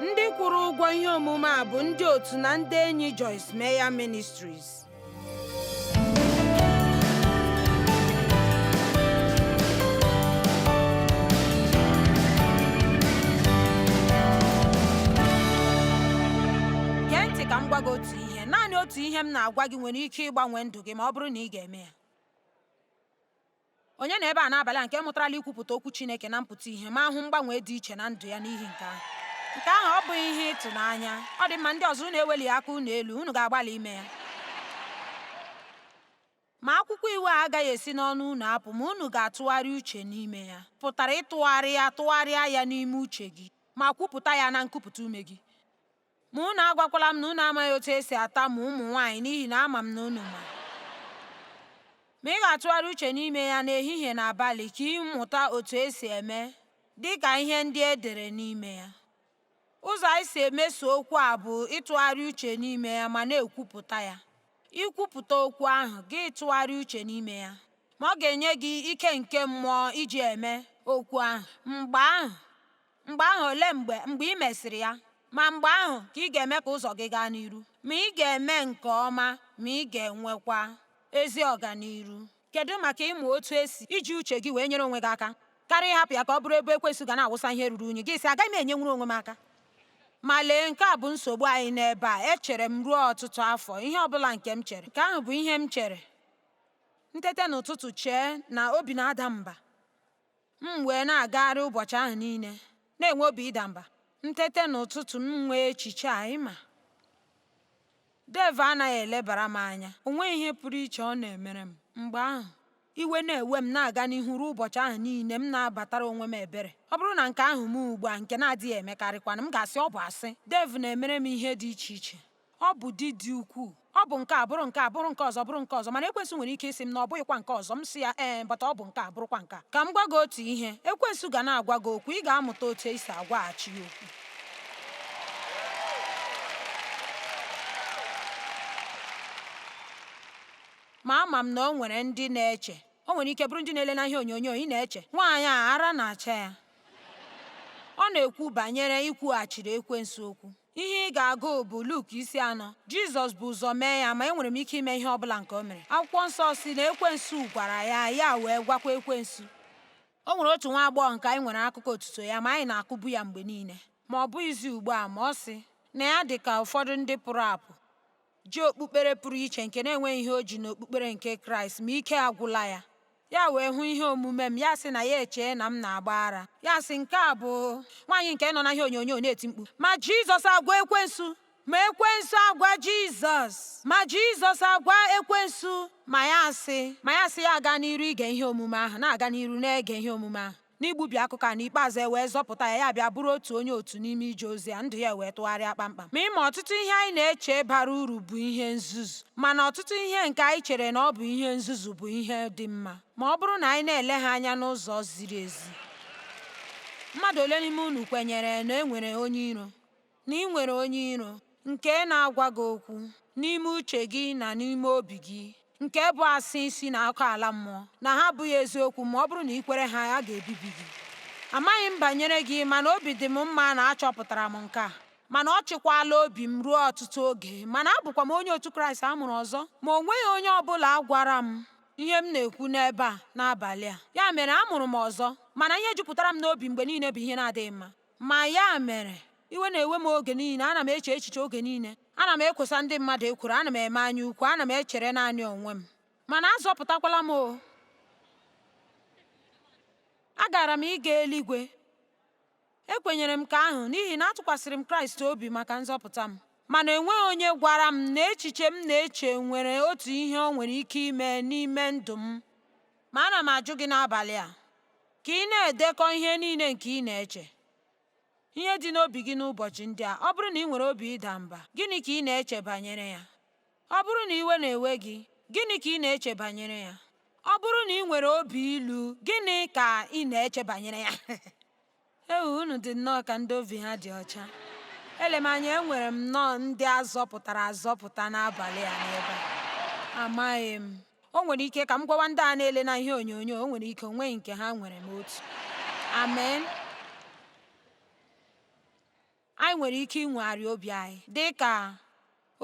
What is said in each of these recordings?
ndị kwụrụ ụgwọ ihe omume a bụ ndị otu na ndị enyi Joyce Meyer Ministries gee ntị ka m gwa gị otu ihe naanị otu ihe m na-agwa gị nwere ike ịgbanwe ndụ gị ma ọ bụrụ na ị ga-eme ya Onye nọ ebe a n'abalị a nke mụtarala ikwupụta okwu Chineke na mpụta ihe ma hụ mgbanwe dị iche na ndụ ya n'ihi nke ahụ? Nke ahụ ọ bụghị ihe ịtụnanya? Ọ dị mma, ndị ọzọ unu eweli aka unu elu, unu ga-agbalị ime ya. Ma akwụkwọ iwu a agaghị esi n'ọnụ unu apụ ma unu ga-atụgharị uche n'ime ya. Pụtara ịtụgharị ya tụgharịa ya n'ime uche gị ma kwupụta ya na nkupụta ume gị. Ma unu agwakwala m na unu amaghị otu esi atamu ụmụ nwaanyị n'ihi na ama m na unu ma. Ma ị ga-atụgharị uche n'ime ya n'ehihie na abalị ka ị mụta otu esi eme dị ka ihe ndị e dere n'ime ya. Ụzọ anyị si emeso okwu a bụ ịtụgharị uche n'ime ya ma na-ekwupụta ya. Ikwupụta okwu ahụ, gị tụgharị uche n'ime ya, ma ọ ga-enye gị ike nke mmụọ iji eme okwu ahụ. Mgbe ahụ, Mgbe ahụ olee mgbe mgbe ị mesịrị ya? Ma mgbe ahụ ka ị ga-eme ka ụzọ gị gaa n'iru. Ma ị ga-eme nke ọma ma ị ga-enwekwa ezi ọganiru. Kedụ maka ịmụ otu esi iji uche gị wee nyere onwe gị aka karịa ịhapụ ya ka ọ bụrụ ebe ekwensu ga na-awụsa ihe ruru unyi, gị sị, agaghị m enyenwuru onwe m aka? Ma lee, nke a bụ nsogbu anyị n'ebe a. Echere m ruo ọtụtụ afọ, ihe ọ bụla nke m chere. Nke ahụ bụ ihe m chere. M tete n'ụtụtụ chee na obi na-ada m mba. M wee na-agagharị ụbọchị ahụ niile, na-enwe obi ịda mba. M tete n'ụtụtụ, m nwee echiche a, ịma. Dave anaghị elebara m anya, o nweghị ihe pụrụ iche ọ na-emere m. Mgbe ahụ, iwe na-ewe m na-aga n'ihu ruo ụbọchị ahụ niile, m na-abatara onwe m ebere. Ọ bụrụ na nke ahụ mee ugbu a, nke na-adịghị emekarịkwanụ, m ga-asị, Ọ bụ asị. Dave na-emere m ihe dị iche iche. Ọ bụ di dị ukwuu. Ọ bụ nke a bụrụ nke a bụrụ nke ọzọ bụrụ nke ọzọ mana ekwensu nwere ike ịsị m na ọ bụghịkwa nke ọzọ m sị ya ee eh, but ọ bụ nke a bụrụkwa nke a. Ka m gwa gị otu ihe, ekwensu ga na-agwa gị okwu ị ga-amụta otu esi agwaghachi ya okwu. Ma ama m na o nwere ndị na-eche o nwere ike bụrụ ndị na-ele na ihe onyonyo ị na-eche nwaanyị a ara na-acha ya ọ na-ekwu banyere ikwughachiri ekwensu okwu Ihe ị ga-agụ bụ Luk isi anọ. Jizọs bu ụzọ mee ya ma enwere m ike ime ihe ọ bụla nke o mere. Akwụkwọ nsọ sị na ekwensu gwara ya ya wee gwakwa ekwensu. O nwere otu nwa agbọghọ nke anyị nwere akụkọ otuto ya ma anyị na-akụbu ya mgbe niile. Ma ọ bụghịzi ugbu a ma ọ sị na ya dị ka ụfọdụ ndị pụrụ apụ. ji okpukpere pụrụ iche nke na-enweghị ihe o ji n'okpukpere nke Kraịst ma ike agwụla ya ya wee hụ ihe omume m ya sị na ya echee na m na-agba ara ya sị nke a bụ nwaanyị nke nọ na ihe onyonyo na-eti mkpu ma Jizọs agwa ekwensu ma ekwensu agwa Jizọs ma Jizọs agwa ekwensu ma ya sị ma ya sị ya aga n'iru ige ihe omume ahụ na-aga n'iru na-ege ihe omume ahụ N'igbubi akụkọ a, n'ikpeazụ e wee zọpụta ya, ya abịa bụrụ otu onye otu n'ime ije ozi a, ndụ ya ewee tụgharịa kpamkpam. Ma ị ma ọtụtụ ihe anyị na-eche bara uru bụ ihe nzuzu. Mana ọtụtụ ihe nke anyị chere na ọ bụ ihe nzuzu bụ ihe dị mma ma ọ bụrụ na anyị na-ele ha anya n'ụzọ ziri ezi. Mmadụ ole n'ime unu kwenyere na e nwere onye iro? na i nwere onye iro nke na-agwa gị okwu n'ime uche gị na n'ime obi gị, nke bụ asị si n'ọkụ ala mmụọ, na ha abụghị eziokwu, ma ọ bụrụ na i kwere ha, a ga-ebibi gị. Amaghị m banyere gị, mana obi dị m mma na achọpụtara m nke a. Mana ọ chịkwaala obi m ruo ọtụtụ oge. Mana abụkwa m onye otu Kraịst a mụrụ ọzọ, ma o nweghị onye ọ bụla gwara m ihe m na-ekwu n'ebe a n'abalị a. Ya mere, a mụrụ m ọzọ, mana ihe jupụtara m n'obi mgbe niile bụ ihe na-adịghị mma. Ma ya mere, iwe na-ewe m oge niile, ana m eche echiche oge niile, ana m ekwosa ndị mmadụ ekworo, ana m eme anya ukwu, ana m echere naanị onwe m. Mana azọpụtakwala m o! Agara m ịga eluigwe. Ekwenyere m nke ahụ n'ihi na atụkwasịrị m Kraịst obi maka nzọpụta m. Mana enweghị onye gwara m na echiche m na-eche nwere otu ihe o nwere ike ime n'ime ndụ m. Ma ana m ajụ gị n'abalị a ka ị na-edekọ ihe niile nke ị na-eche, ihe dị n'obi gị n'ụbọchị ndị a. Ọ bụrụ na i nwere obi ịda mba, gịnị ka ị na-eche banyere ya? Ọ bụrụ na iwe na-ewe gị, gịnị ka ị na-eche banyere ya? Ọ bụrụ na i nwere obi ilu, gịnị ka ị na-eche banyere ya? Ewu unu dị nnọọ ka ndị obi ha dị ọcha. Ele m anya enwere m nnọọ ndị a zọpụtara azọpụta n'abalị a n'ebe a. Amaghị m. O nwere ike ka m gwawa ndị a na-ele na ihe onyonyo, o nwere ike o nweghị nke ha nwere m otu. Amen. Anyị nwere ike inwegharị obi anyị dị ka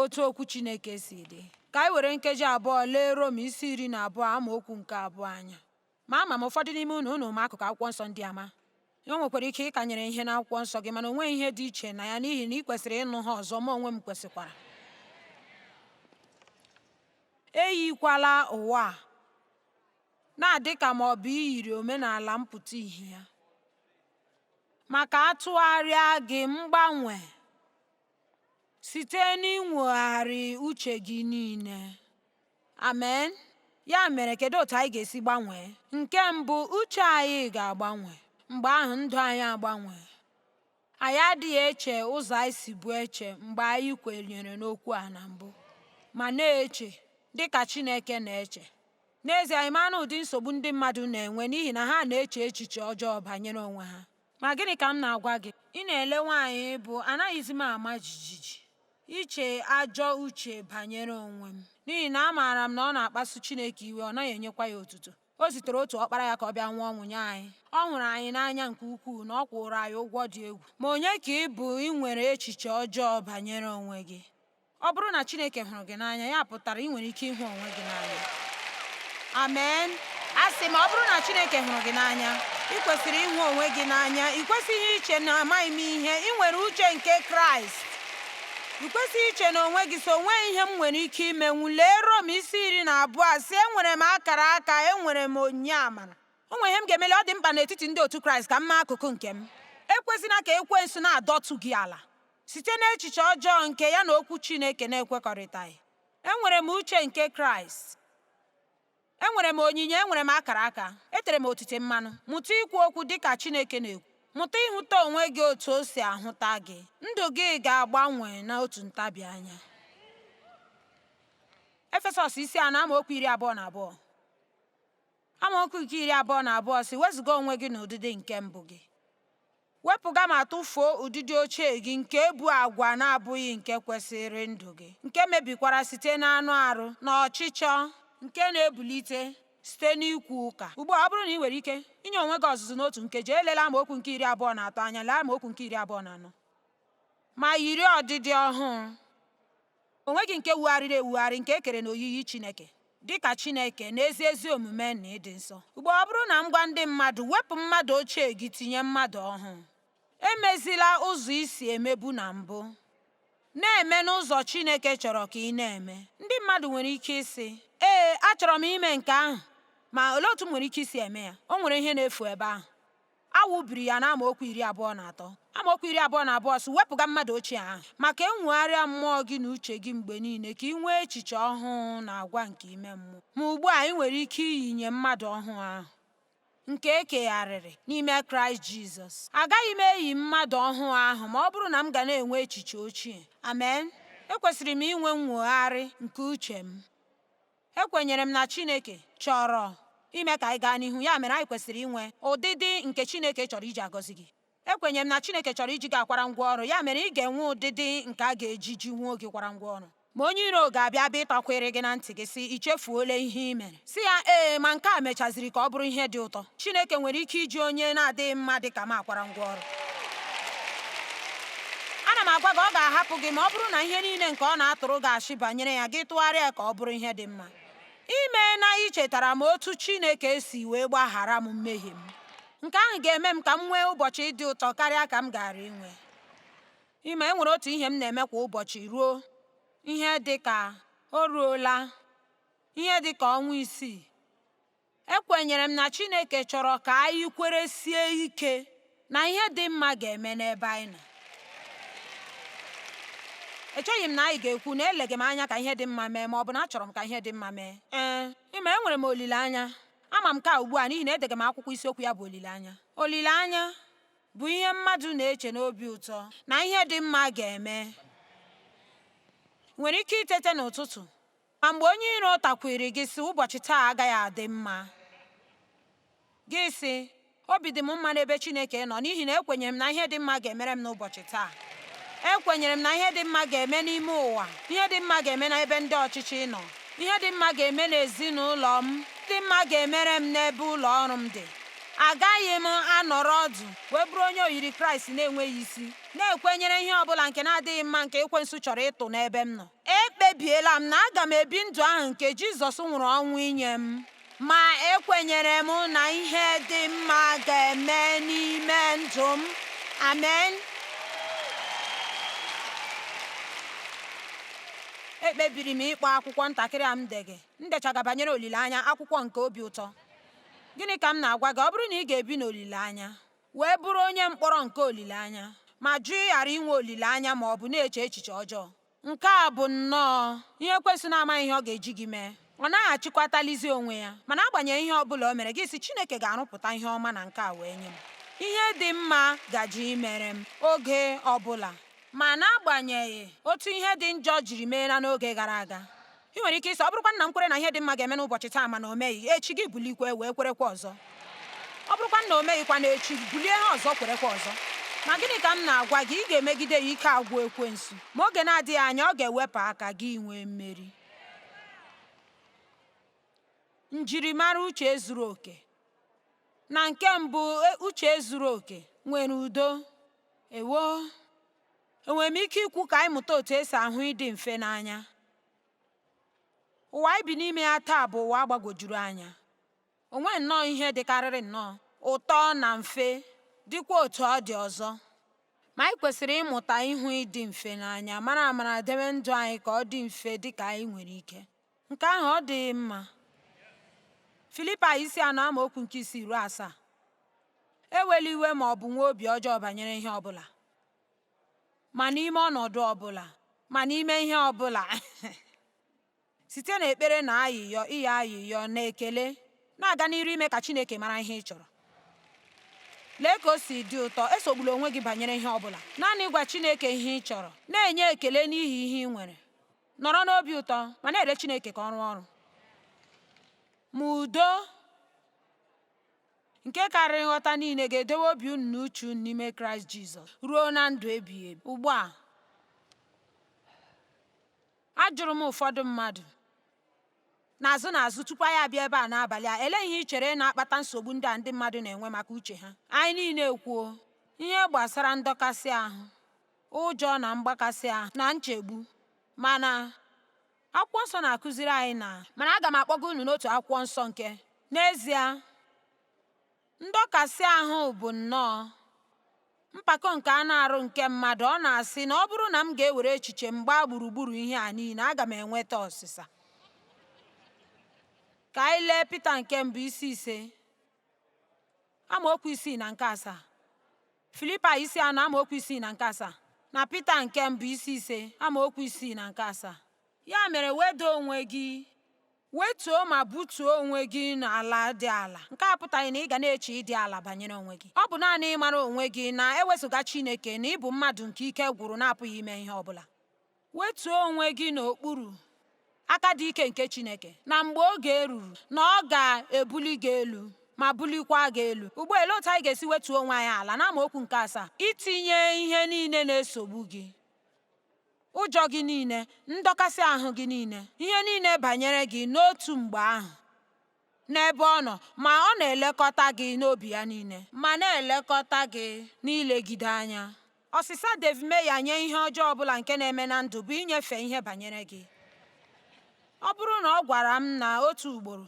otu okwu Chineke si dị. Ka anyị were nkeji abụọ lee Rom isi iri na abụọ amaokwu nke abụọ anya. Ma ama m ụfọdụ n'ime unu unu ma akụkụ akwụkwọ nsọ ndị a ma o nwekwara ike ị kanyere ihe n'akwụkwọ nsọ gị mana o nweghị ihe dị iche na ya n'ihi na i kwesịrị ịnụ ha ọzọ ma onwe m kwesịkwara eyikwala ụwa a na-adị ka ma ọ bụ iyiri omenala mpụta ihe ya ma ka a tụgharịa gị mgbanwe site n'inwogharị uche gị niile Amen. Ya mere kedu otu anyị ga-esi gbanwee? Nke mbụ, uche anyị ga-agbanwe. Mgbe ahụ ndụ anyị agbanwee. Anyị adịghị eche ụzọ anyị sibu eche mgbe anyị kwenyere n'okwu a na mbụ, ma na-eche dị ka Chineke na-eche. N'ezie, anyị ma na ụdị nsogbu ndị mmadụ na-enwe n'ihi na ha na-eche echiche ọjọọ banyere onwe ha. Ma gịnị ka m na-agwa gị? Ị na-ele nwaanyị bụ anaghịzi m ama jijiji iche ajọ uche banyere onwe m n'ihi na amaara m na ọ na-akpasu Chineke iwe ọ naghị enyekwa ya otuto o zitere otu ọkpara ya ka ọ bịa nwụọ ọnwụ nye anyị ọ hụrụ anyị n'anya nke ukwuu na ọ kwụụrụ anyị ụgwọ dị egwu ma onye ka ị bụ inwere echiche ọjọọ banyere onwe gị Ọ bụrụ na Chineke hụrụ gị n'anya, ya pụtara i nwere ike ịhụ onwe gị n'anya. Amen. Asị m ọ bụrụ na Chineke hụrụ gị n'anya, i kwesịrị ịhụ onwe gị n'anya. I kwesịghị iche na amaghị m ihe. I nwere uche nke Kraịst. I kwesịghị iche na onwe gị so o nweghị ihe m nwere ike imenwu. Lee Rom isi iri na abụọ sị enwere m akara aka, enwere m onyinye amara. O nwere ihe m ga-emeli ọ dị mkpa n'etiti ndị otu Kraịst ka m mee akụkụ nke m. Ekwezina ka ekwensu na-adọtụ gị ala. Site n'echiche ọjọọ nke ya na Okwu Chineke na-ekwekọrịtaghị, enwere m uche nke Kraịst. Enwere m onyinye, enwere m akara aka, etere m otite mmanụ. Mụta ikwu okwu dị ka Chineke na-ekwu. Mụta ịhụta onwe gị otu o si ahụta gị. Ndụ gị ga-agbanwe n'otu ntabi anya. Efesọs isi anọ amaokwu iri abụọ na abụọ amaokwu nke iri abụọ na abụọ sị wezuga onwe gị n'ụdịdị nke mbụ gị Wepụga ma tụfuo ụdịdị ochie gị nke bụ agwa na-abụghị nke kwesịịrị ndụ gị, nke mebikwara site n'anụ arụ na ọchịchọ nke na-ebulite site n'ikwu ụka. Ugbu a, ọ bụrụ na i nwere ike inye onwe gị ọzụzụ n'otu nkeji, elela amaokwu nke iri abụọ na atọ anya, lee amaokwu nke iri abụọ na anọ, ma yiri ọdịdị ọhụụ. Onwe gị nke wugharịrị ewugharị nke e kere n'oyiyi Chineke dị ka Chineke n'ezi ezi omume na ịdị nsọ. Ugbu a ọ bụrụ na m gwa ndị mmadụ wepụ mmadụ ochie gị tinye mmadụ ọhụụ, emezila ụzọ i si emebu na mbụ, na-eme n'ụzọ Chineke chọrọ ka ị na-eme, ndị mmadụ nwere ike ịsị, Ee, achọrọ m ime nke ahụ, ma olee otu m nwere ike isi eme ya? O nwere ihe na-efu ebe ahụ. A wụbiri ya n'amaokwu iri abụọ na atọ amaokwu iri abụọ na abụọ sị wepụga mmadụ ochie ahụ ma ka e nwogharịa mmụọ gị na uche gị mgbe niile ka i nwee echiche ọhụụ na agwa nke ime mmụọ ma ugbu a i nwere ike iyinye mmadụ ọhụụ ahụ nke e kegharịrị n'ime kraịst jizọs agaghị m eyi mmadụ ọhụụ ahụ ma ọ bụrụ na m ga na-enwe echiche ochie amen ekwesịrị m inwe nnwogharị nke uche m Ekwenyere m na Chineke chọrọ ime ka anyị gaa n'ihu, ya mere anyị kwesịrị inwe ụdịdị nke Chineke chọrọ iji agọzi gị. Ekwenyere m na Chineke chọrọ iji gị akwara ngwa ọrụ, ya mere ị ga-enwe ụdịdị nke a ga-eji jiwuo gị kwara ngwa ọrụ. Ma onye iro ga-abịa bịa ịtakwiri gị na ntị gị, sị, I chefuola ihe i mere. Sị ya, Ee, ma nke a mechaziri ka ọ bụrụ ihe dị ụtọ. Chineke nwere ike iji onye na-adịghị mma dị ka m akwara ngwa ọrụ. Ana m agwa gị, ọ ga-ahapụ gị ma ọ bụrụ na ihe niile nke ọ na-atụrụ gị ashị banyere ya gị tụgharịa ka ọ bụrụ ihe dị mma. Imeela ichetara m otu Chineke si wee gbaghara m mmehie m. Nke ahụ ga-eme m ka m nwee ụbọchị dị ụtọ karịa ka m gaara inwe. Ị ma e nwere otu ihe m na-eme kwa ụbọchị ruo ihe dị ka o ruola ihe dị ka ọnwa isii Ekwenyere m na Chineke chọrọ ka anyị kweresie ike na ihe dị mma ga-eme n'ebe anyị nọ. Echeghị m na anyị ga-ekwu na elega m anya ka ihe dị mma mee ma ọ bụ na achọrọ m ka ihe dị mma mee. Ee, ị ma enwere m olileanya. Ama m nke a ugbu a n'ihi na edega m akwụkwọ isiokwu ya bụ olileanya. Olileanya bụ ihe mmadụ na-eche n'obi ụtọ na ihe dị mma ga-eme. Nwere ike itete n'ụtụtụ Ma mgbe onye iro takwiiri gị sị, Ụbọchị taa agaghị adị mma, gị sị, Obi dị m mma n'ebe Chineke nọ, n'ihi na ekwenyere m na ihe dị mma ga-emere m n'ụbọchị taa. Ekwenyere m na ihe dị mma ga-eme n'ime ụwa, ihe dị mma ga-eme n'ebe ndị ọchịchị nọ, ihe dị mma ga-eme n'ezinụlọ m, ihe dị mma ga-emere m n'ebe ụlọ ọrụ m dị. Agaghị m anọrọ ọdụ wee bụrụ onye oyiri Kraịst na-enweghị isi, na-ekwenyere ihe ọ bụla nke na-adịghị mma nke Ekwensu chọrọ ịtụ n'ebe m nọ. Ekpebiela m na aga m ebi ndụ ahụ nke Jizọs nwụrụ ọnwụ inye m. Ma ekwenyere m na ihe dị mma ga-eme n'ime ndụ m. Amen. Ekpebiri m ịkpọ akwụkwọ ntakịrị a m dega m dechaga banyere olileanya akwụkwọ nke obi ụtọ. Gịnị ka m na-agwa gị? Ọ bụrụ na ị ga-ebi n'olileanya, wee bụrụ onye mkpọrọ nke olileanya ma jụ ịghara inwe olileanya ma ọ bụ na-eche echiche ọjọọ. Nke a bụ nnọọ ihe Ekwensu na-amaghị ihe ọ ga-eji gị mee. Ọ naghị achịkwatalizi onwe ya. Ma n'agbanyeghị ihe ọ bụla o mere, gị sị, Chineke ga-arụpụta ihe ọma na nke a wee nye m. Ihe dị mma gaje imere m oge ọ bụla. Ma n'agbanyeghị otu ihe dị njọ jiri meela n'oge gara aga, I nwere ike ịsị ọ bụrụkwa na m kwere na ihe dị mma ga-eme n'ụbọchị taa mana o meghị echi gị bulikwa wee kwerekwa ọzọ ọ bụrụkwa na o meghịkwa na echi bulie ha ọzọ kwerekwa ọzọ ma gịnị ka m na-agwa gị ị ga-emegide ya ike agwụ ekwensu ma oge na-adịghị anya ọ ga-ewepụ aka gị nwee mmeri njirimara uche zuru oke na nke mbụ e, uche zuru oke nwere udo ewo Enwere m ike ikwu ka anyị mụta otu esi ahụ ịdị mfe n'anya? Ụwa anyị bi n'ime ya taa bụ ụwa gbagwojuru anya. O nweghị nnọọ ihe dịkarịrị nnọọ ụtọ na mfe, dịkwa otu ọ dị ọzọ. Ma anyị kwesịrị ịmụta ịhụ ịdị mfe n'anya, mara amara debe ndụ anyị ka ọ dị mfe dị ka anyị nwere ike. Nke ahụ ọ dịghị mma? Filipaị isi anọ amaokwu nke isii ruo asaa ewela iwe ma ọ bụ nwee obi ọjọọ banyere ihe ọbụla ma n'ime ọnọdụ ọbụla ma n'ime ihe ọbụla site na ekpere na ayịyọ ịyọ ayịyọ na ekele na-aga n'iru ime ka Chineke mara ihe ị chọrọ lee ka o si dị ụtọ esogbula onwe gị banyere ihe ọbụla naanị gwa Chineke ihe ị chọrọ na-enye ekele n'ihi ihe ị nwere Nọrọ n'obi ụtọ ma na-ele Chineke ka ọ rụọ ọrụ. Ma udo nke karịrị nghọta niile ga-edowe obi unu na uche unu n'ime Kraịst Jizọs ruo na ndụ ebighị ebi. Ugbu a, ajụrụ m ụfọdụ mmadụ n'azụ n'azụ tupu anyị abịa ebe a n'abalị a elee ihe i chere na-akpata nsogbu ndị a ndị mmadụ na-enwe maka uche ha anyị niile ekwuo ihe gbasara ndọkasị ahụ ụjọ na mgbakasị ahụ na nchegbu mana akwụkwọ nsọ na-akụziri anyị na mana aga m akpọga unu n'otu akwụkwọ nsọ nke n'ezie ndọkasị ahụ bụ nnọọ mpako nke anụ arụ nke mmadụ ọ na-asị na ọ bụrụ na m ga-ewere echiche m gbaa gburugburu ihe a niile aga m enweta ọsịsa ka anyị lee Pita nke mbụ isi ise amaokwu isii na nke asaa Filipaị isi anọ amaokwu isii na nke asaa na Pita nke mbụ isi ise amaokwu isii na nke asaa ya mere weda onwe gị wetuo ma butuo onwe gị n'ala dị ala nke a apụtaghị na ị ga na-eche ịdị ala banyere onwe gị ọ bụ naanị ịmara onwe gị na ewezụga Chineke na ị bụ mmadụ nke ike gwụrụ na-apụghị ime ihe ọ bụla Wetuo onwe gị n'okpuru aka dị ike nke Chineke na mgbe oge ruru na ọ ga-ebuli gị elu ma bulikwa gị elu. Ugbu a, elee otu anyị ga-esi wetuo onwe anyị ala n'amaokwu nke asaa? Itinye ihe niile na-esogbu gị ụjọ gị niile, ndọkasị ahụ gị niile, ihe niile banyere gị n'otu mgbe ahụ. n'ebe ọ nọ ma ọ na-elekọta gị n'obi ya niile ma na-elekọta gị n'ilegide anya. Ọsịsa Dave Meyer nye ihe ọjọọ ọ bụla nke na-eme na ndụ bụ inyefe ihe banyere gị. Ọ bụrụ na ọ gwara m na otu ugboro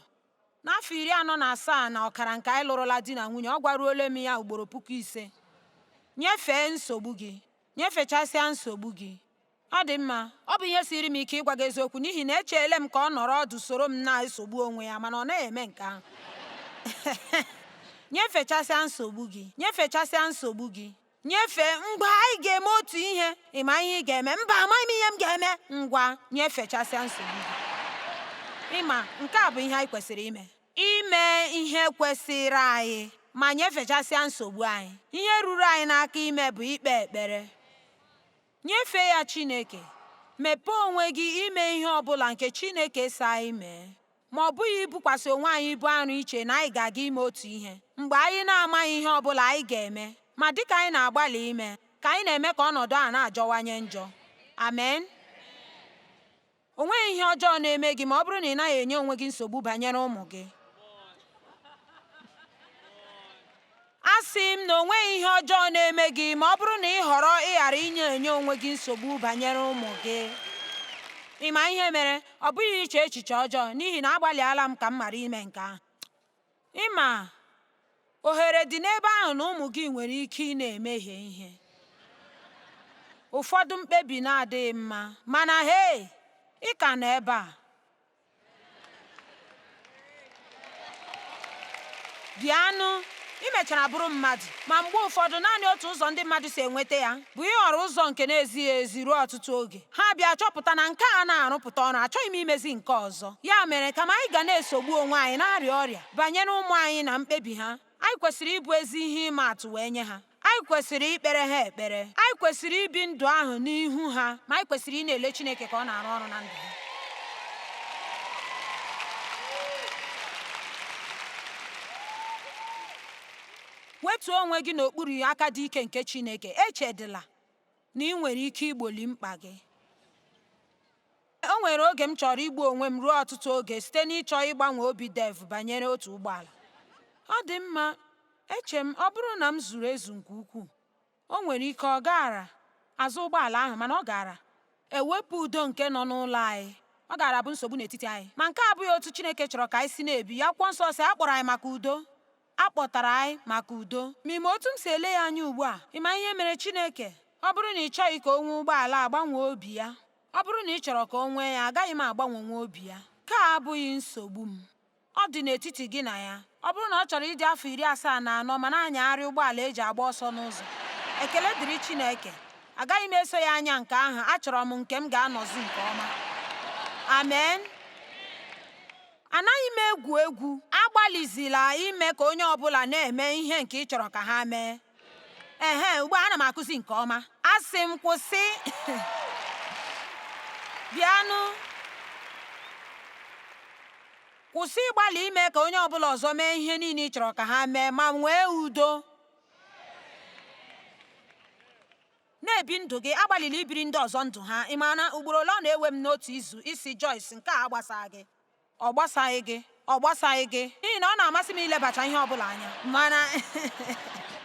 n'afọ iri anọ na asaa na ọkara nke anyị lụrụla di na nwunye, ọ gwaruole m ya ugboro puku ise, nyefee nsogbu gị, nyefechasịa nsogbu gị. Ọ dị mma, ọ bụ ihe siiri m ike ịgwa gị eziokwu n'ihi na echeele m ka ọ nọrọ ọdụ soro m na-esogbu onwe ya mana ọ naghị eme nke ahụ. nyefechasịa nsogbu gị nyefechasịa nsogbu gị nyefee ngwa anyị ga-eme otu ihe ị ma ihe ị ga-eme mba amaghị m ihe m ga-eme ngwa nyefechasịa nsogbu gị ị ma nke a bụ ihe anyị kwesịrị ime ime ihe kwesịrị anyị ma nyefechasịa nsogbu anyị ihe ruru anyị n'aka ime bụ ikpe ekpere Nyefee ya Chineke. Mepee onwe gị ime ihe ọ bụla nke Chineke sị anyị mee, ma ọ bụghị ibukwasị onwe anyị ibu arụ iche na anyị ga-aga ime otu ihe mgbe anyị na-amaghị ihe ọ bụla anyị ga-eme. Ma dị ka anyị na-agbalị ime, ka anyị na-eme ka ọnọdụ a na-ajọwanye njọ. Amen. O nweghị ihe ọjọọ na-eme gị ma ọ bụrụ na ị naghị enye onwe gị nsogbu banyere ụmụ gị. Asị m na o nweghị ihe ọjọọ na-eme gị ma ọ bụrụ na ị họrọ ịghara inye enye onwe gị nsogbu banyere ụmụ gị. Ị ma ihe mere? Ọ bụghị iche echiche ọjọọ, n'ihi na agbalịala m ka m ghara ime nke ahụ. Ị ma, ohere dị n'ebe ahụ na ụmụ gị nwere ike ịna-emehie ihe, ụfọdụ mkpebi na-adịghị mma, mana hei, ị ka nọ ebe a. Bịanụ, ị mechara bụrụ mmadụ, ma mgbe ụfọdụ naanị otu ụzọ ndị mmadụ si enweta ya bụ ịhọrọ ụzọ nke na-ezighị ezi ruo ọtụtụ oge. ha bịa chọpụta na nke a na-arụpụta ọrụ achọghị m imezi nke ọzọ ya mere kama anyị ga na-esogbu onwe anyị na-arịa ọrịa banyere ụmụ anyị na mkpebi ha anyị kwesịrị ịbụ ezi ihe ịma atụ wee nye ha anyị kwesịrị ikpere ha ekpere anyị kwesịrị ibi ndụ ahụ n'ihu ha ma anyị kwesịrị ịna-ele Chineke ka ọ na-arụ ọrụ na ndụ ha wetuo onwe gị n'okpuru aka dị ike nke Chineke echedịla na ị nwere ike igboli mkpa gị. O nwere oge m chọrọ igbu onwe m ruo ọtụtụ oge site n'ịchọ ịgbanwe obi Dave banyere otu ụgbọala. Ọ dị mma, eche m, ọ bụrụ na m zuru ezu nke ukwuu, o nwere ike ọ gaara azụ ụgbọala ahụ, mana ọ gaara ewepụ udo nke nọ n'ụlọ anyị, ọ gaara abụ nsogbu n'etiti anyị. Ma nke a abụghị otu Chineke chọrọ ka anyị si na-ebi. Akwụkwọ Nsọ sị, A kpọrọ anyị maka udo. A kpọtara anyị maka udo. Ma ị ma otu m si ele ya anya ugbu a? Ị ma ihe mere Chineke? Ọ bụrụ na ị chọghị ka o nwee ụgbọala a gbanwee obi ya. Ọ bụrụ na ị chọrọ ka o nwee ya, agaghị m agbanwenwu obi ya. Nke a abụghị nsogbu m. Ọ dị n'etiti gị na ya. Ọ bụrụ na ọ chọrọ ịdị afọ iri asaa na anọ ma na-anyagharị ụgbọala e ji agba ọsọ n'ụzọ, ekele dịrị Chineke, agaghị m eso ya anya nke ahụ, achọrọ m nke m ga-anọzi nke ọma. Amen. Anaghị m egwu egwu. Agbalịzila ime ka onye ọ bụla na-eme ihe nke ị chọrọ ka ha mee. Ehe, ugbu a ana m akụzi nke ọma. Asị m kwụsị. Bịanụ. Kwụsị ịgbalị ime ka onye ọ bụla ọzọ mee ihe niile ị chọrọ ka ha mee ma nwee udo. Na-ebi ndụ gị, agbalịla ibiri ndị ọzọ ndụ ha. Ị ma na ugboro ole ọ na-ewe m n'otu izu ịsị Joyce, Nke a agbasaghị gị. Ọ gbasaghị gị. Ọ gbasaghị gị. N'ihi na ọ na-amasị m ilebacha ihe ọ bụla anya. Mana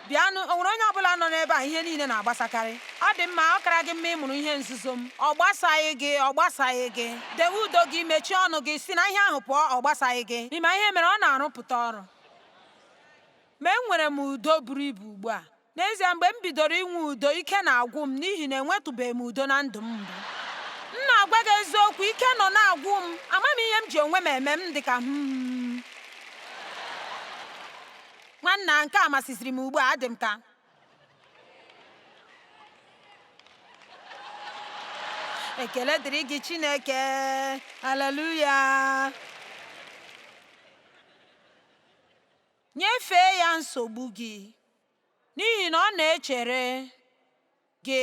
bịanụ, o nwere onye ọ bụla nọ n'ebe a ihe niile na-agbasakarị? Ọ dị mma, ọ kara gị mma ịmụrụ ihe nzuzo m. Ọ gbasaghị gị. Ọ gbasaghị gị. Dewe udo gị, mechie ọnụ gị, si na ihe ahụ pụọ. Ọ gbasaghị gị. Ị ma ihe mere? Ọ na-arụpụta ọrụ. Ma enwere m udo buru ibu ugbu a. N'ezie, mgbe m bidoro inwe udo, ike na-agwụ m n'ihi na enwetụbeghị m udo na ndụ m mbụ. M na-agwa gị eziokwu, ike nọ na-agwụ m. Amaghị m ihe m ji onwe m eme m dị ka, hmm, hmm, hmm. Nwanna, nke a masịziri m ugbu a, adị m ka ekele dịrị gị Chineke haleluya nyefee ya nsogbu gị N'ihi na ọ na-echere gị.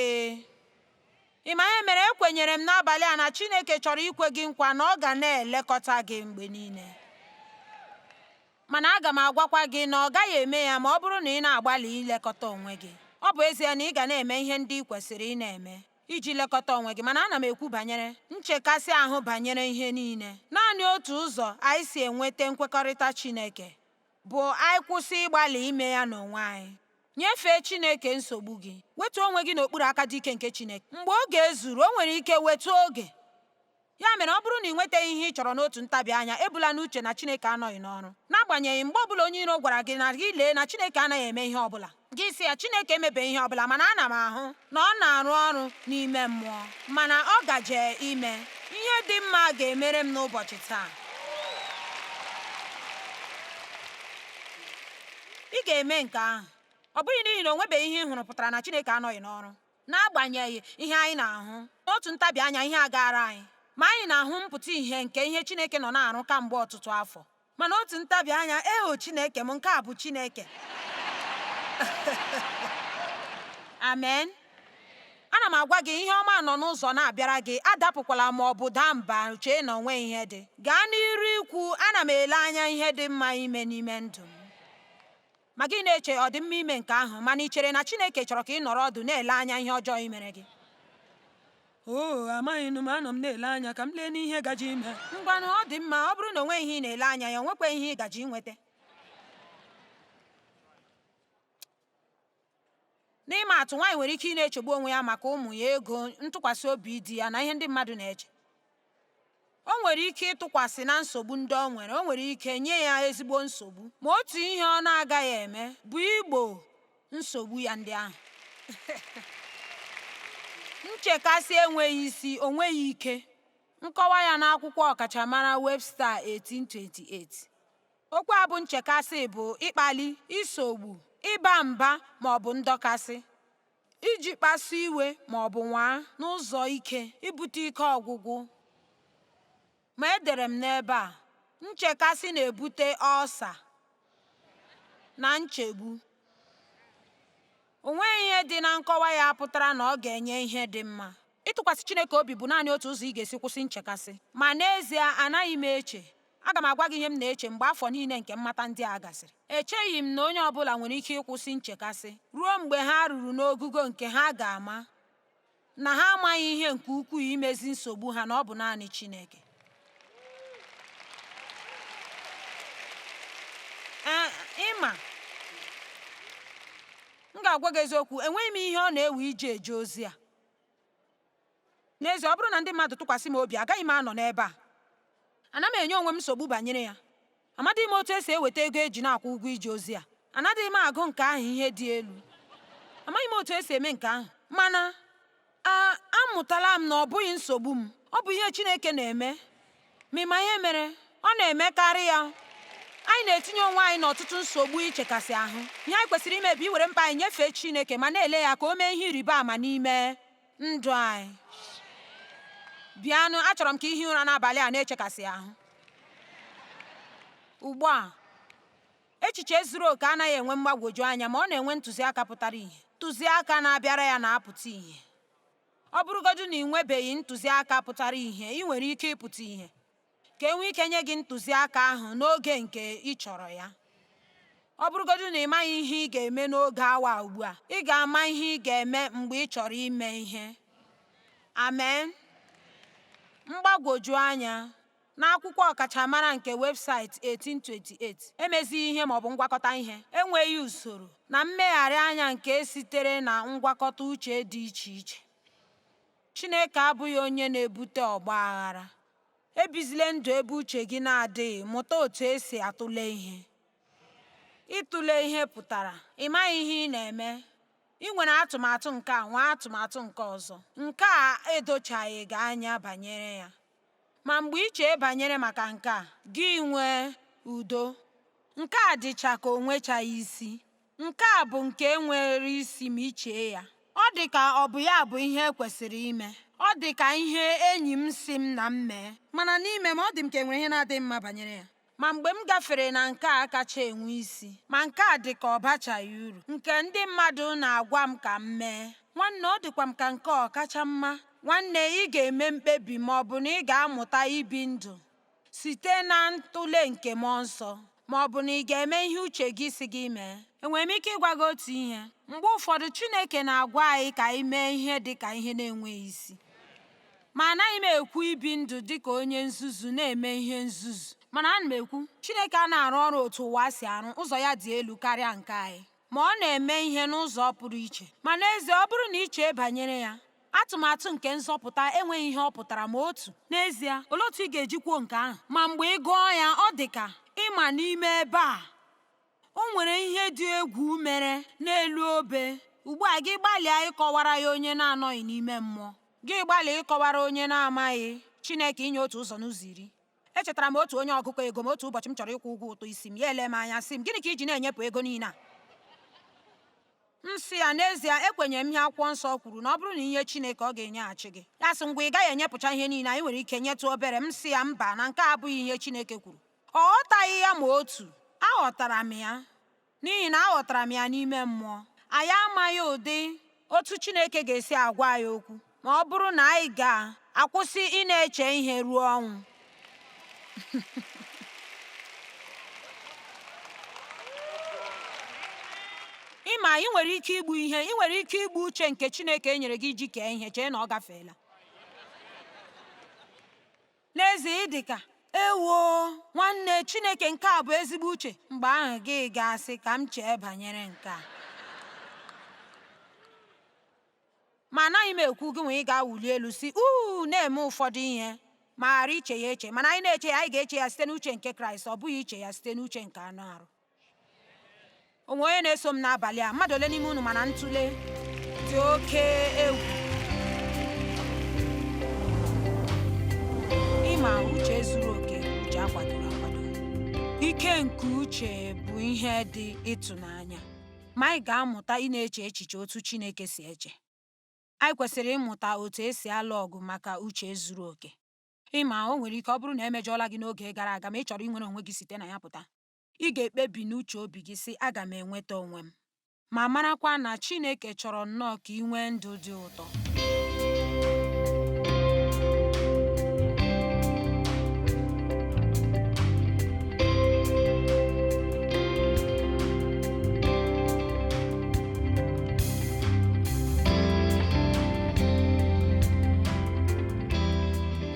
Ị ma ihe mere ekwenyere m n'abalị a na Chineke chọrọ ikwe gị nkwa na ọ ga na-elekọta gị mgbe niile mana aga m agwakwa gị na ọ gaghị eme ya ma ọ bụrụ na ị na-agbalị ilekọta onwe gị ọ bụ ezie na ị ga na-eme ihe ndị ị kwesịrị ị na-eme iji lekọta onwe gị mana ana m ekwu banyere nchekasị ahụ banyere ihe niile naanị otu ụzọ anyị si enweta nkwekọrịta Chineke bụ anyị kwụsị ịgbalị ime ya n'onwe anyị nyefee Chineke nsogbu gị wetuo onwe gị n'okpuru aka dị ike nke Chineke mgbe oge zuru o nwere ike wetụ oge ya mere ọ bụrụ na ị nwetaghị ihe ị chọrọ n'otu ntabi anya ebula n'uche na Chineke anọghị n'ọrụ n'agbanyeghị mgbe ọbụla onye iro gwara gị na gị lee na Chineke anaghị eme ihe ọbụla gị sị ya Chineke emebe ihe ọbụla mana ana m ahụ na ọ na-arụ ọrụ n'ime mmụọ mana ọ gaje ime ihe dị mma ga-emere m n'ụbọchị taa ị ga-eme nke ahụ ọ bụghị n'ihi na o nwebeghị ihe ị hụrụ pụtara na Chineke anọghị n'ọrụ n'agbanyeghị ihe anyị na-ahụ n'otu ntabi anya ihe agaara anyị ma anyị na-ahụ mpụta ihe nke ihe Chineke nọ na-arụ kamgbe ọtụtụ afọ mana otu ntabi anya eho Chineke m nke a bụ Chineke amen ana m agwa gị ihe ọma nọ n'ụzọ na-abịara gị adapụkwala ma ọ bụ daa mba chee na o nwe ihe dị gaa n'iru ikwu ana m ele anya ihe dị mma ime n'ime ndụ m Ma gị na-eche ọ dị mma ime nke ahụ, mana i chere na Chineke chọrọ ka ị nọrọ ọdụ na-ele anya ihe ọjọọ i mere gị? Oo, amaghịnụ m, anọ m na-ele anya ka m lee n'ihe gaje ime. Ngwanụ, ọ dị mma, ọ bụrụ na o nweghị ihe ị na-ele anya ya, o nwekwaghị ihe ị gaje inweta. N'ịma atụ, nwaanyị nwere ike ịna-echegbu onwe ya maka ụmụ ya, ego, ntụkwasị obi di ya, na ihe ndị mmadụ na-eche. o nwere ike ịtụkwasị na nsogbu ndị o nwere o nwere ike nye ya ezigbo nsogbu ma otu ihe ọ na-agaghị eme bụ igbo nsogbu ya ndị ahụ nchekasị enweghị isi o nweghị ike nkọwa ya n'akwụkwọ ọkachamara Webster 1828 okwu a bụ nchekasị bụ ịkpali isogbu ịba mba ma ọ bụ ndọkasị iji kpasu iwe ma ọ bụ nwaa n'ụzọ ike ibute ike ọgwụgwụ ma edere m n'ebe a nchekasị na-ebute ọlsa na nchegbu o nweghị ihe dị na nkọwa ya pụtara na ọ ga-enye ihe dị mma ịtụkwasị Chineke obi bụ naanị otu ụzọ ị ga-esi kwụsị nchekasị ma n'ezie anaghị m eche Aga m agwa gị ihe m na-eche mgbe afọ niile nke mmata ndị a gasịrị. Echeghị m na onye ọ bụla nwere ike ịkwụsị nchekasị ruo mgbe ha ruru n'ogugo nke ha ga-ama na ha amaghị ihe nke ukwuu imezi nsogbu ha na ọ bụ naanị Chineke. Ee, ị ma, m ga-agwa gị eziokwu, enweghị m ihe ọ na-ewe iji eje ozi a. N'ezie, ọ bụrụ na ndị mmadụ tụkwasị m obi, agaghị m anọ n'ebe a. Ana m enye onwe m nsogbu banyere ya. Amadịghị m otu e si eweta ego e ji na-akwụ ụgwọ ije ozi a. Anadịghị m agụ nke ahụ ihe dị elu. Amaghị m otu e si eme nke ahụ. Mana, a, amụtala m na ọ bụghị nsogbu m. Ọ bụ ihe Chineke na-eme. Ma ị ma ihe mere? Ọ na-emekarị ya. Anyị na-etinye onwe anyị n'ọtụtụ nsogbu ichekasị ahụ. Ihe anyị kwesịrị ime bụ iwere mkpa anyị nyefee Chineke ma na-ele ya ka o mee ihe ịrịba ama n'ime. ndụ anyị bịanụ achọrọ m ka i hie ụra n'abalị a na-echekasị ahụ ugbu a echiche zuru oke anaghị enwe mgbagwoju anya ma ọ na-enwe ntụziaka pụtara ihe ntụziaka na-abịara ya na-apụta ihe ọ bụrụgodu na ị nwebeghị ntụziaka pụtara ihe ị nwere ike ịpụta ihe ka e nwee ike nye gị ntụziaka ahụ n'oge nke ị chọrọ ya ọ bụrụgodu na ị maghị ihe ị ga-eme n'oge awa ugbu a ị ga-ama ihe ị ga-eme mgbe ị chọrọ ime ihe amen mgbagwoju anya n'akwụkwọ ọkachamara nke Webster 1828 emezighị ihe ma ọ bụ ngwakọta ihe enweghị usoro na mmegharị anya nke sitere na ngwakọta uche dị iche iche Chineke abụghị onye na-ebute ọgba aghara Ebizile ndụ ebe uche gị na-adịghị, mụta otu e si atụle ihe. Ịtụle ihe pụtara ị maghị ihe ị na-eme, ị nwere atụmatụ nke a nwee atụmatụ nke ọzọ, nke a edochaghị gị anya banyere ya. Ma mgbe i chee banyere maka nke a, gị nwee udo, nke a dịcha ka o nwechaghị isi. Nke a bụ nke nwere isi ma i chee ya. Ọ dị ka ọ bụ ya bụ ihe e kwesịrị ime. Ọ dị ka ihe enyi m sị m na m mee. Mana n'ime m, ọ dị m ka e nwere ihe na-adịghị mma banyere ya. Ma mgbe m gafere na nke a kacha enwe isi, ma nke a dị ka ọ bachaghị uru, nke ndị mmadụ na-agwa m ka m mee, nwanne ọ dịkwa m ka nke ọ kacha mma. Nwanne, ị ga-eme mkpebi ma ọ bụ na ị ga-amụta ibi ndụ site na ntụle nke mmụọ nsọ ma ọ bụ na ị ga-eme ihe uche gị sị gị mee enwere m ike ịgwa gị otu ihe mgbe ụfọdụ Chineke na-agwa anyị ka anyị mee ihe dị ka ihe na-enweghị isi ma anaghị m ekwu ibi ndụ dị ka onye nzuzu na-eme ihe nzuzu mana ana m ekwu Chineke anaghị arụ ọrụ otu ụwa si arụ ụzọ ya dị elu karịa nke anyị ma ọ na-eme ihe n'ụzọ pụrụ iche. Ma n'ezie, ọ bụrụ na i chee banyere ya, atụmatụ nke nzọpụta enweghị ihe ọ pụtara ma otu. N'ezie, olee otu ị ga-eji kwuo nke ahụ? Ma mgbe ị gụọ ya, ọ dị ka ị ma n'ime ebe a o nwere ihe dị egwu mere n'elu obe. Ugbu a gị gbalịa ịkọwara ya onye na-anọghị n'ime mmụọ, gị gbalịa ịkọwara onye na-amaghị Chineke inye otu ụzọ n'ụzọ iri. Echetara m otu onye ọgụkọ ego m otu ụbọchị m chọrọ ịkwụ ụgwọ ụtụ isi m, ya ele m anya sị m, Gịnị ka i ji na-enyepụ ego niile a? M sị ya, N'ezie, ekwenyere m ihe akwụkwọ nsọ kwuru na ọ bụrụ na i nye Chineke, ọ ga-enyeghachi gị. Ya sị, Ngwa, ị gaghị enyepụcha ihe niile, anyị nwere ike nyetụ obere. M sị ya, Mba, na nke a abụghị ihe Chineke kwuru. Ọ ghọtaghị ya ma otu. Aghọtara m ya. n'ihi na aghọtara m ya n'ime mmụọ anyị amaghị ụdị otu Chineke ga-esi agwa anyị okwu ma ọ bụrụ na anyị ga-akwụsị ịna-eche ihe ruo ọnwụ ị ma ị nwere ike igbu ihe ị nwere ike igbu uche nke Chineke e nyere gị iji kee ihe chee na ọ gafeela N'ezie ị dị ka, Ewoo, nwanne, Chineke nke a bụ ezigbo uche. Mgbe ahụ gị ga-asị, Ka m chee banyere nke a. Ma anaghị m ekwu gị nwee ị ga-awụli elu sị uu na-eme ụfọdụ ihe ma ghara iche ya eche. Mana anyị na-eche ya, anyị ga-eche ya site n'uche nke Kraịst, ọ bụghị iche ya site n'uche nke anụ arụ. o nwe onye na-eso m n'abalị a mmadụ ole n'ime unu ma na ntụle dị oke egwu ịma uche zuru oke uche akwadoro akwado ike nke uche bụ ihe dị ịtụnanya ma anyị ga-amụta ịna-eche echiche otu Chineke si eche anyị kwesịrị ịmụta otu esi alụ ọgụ maka uche zuru oke ị ma o nwere ike ọ bụrụ na e mejọọla gị n'oge gara aga ma ị chọrọ inwere onwe gị site na ya pụta ị ga-ekpebi n'uche obi gị sị aga m enweta onwe m ma marakwa na Chineke chọrọ nnọọ ka ị nwee ndụ dị ụtọ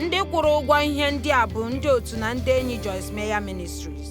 Ndị kwụrụ ụgwọ ihe ndị a bụ ndị otu na ndị enyi Joyce Meyer Ministries.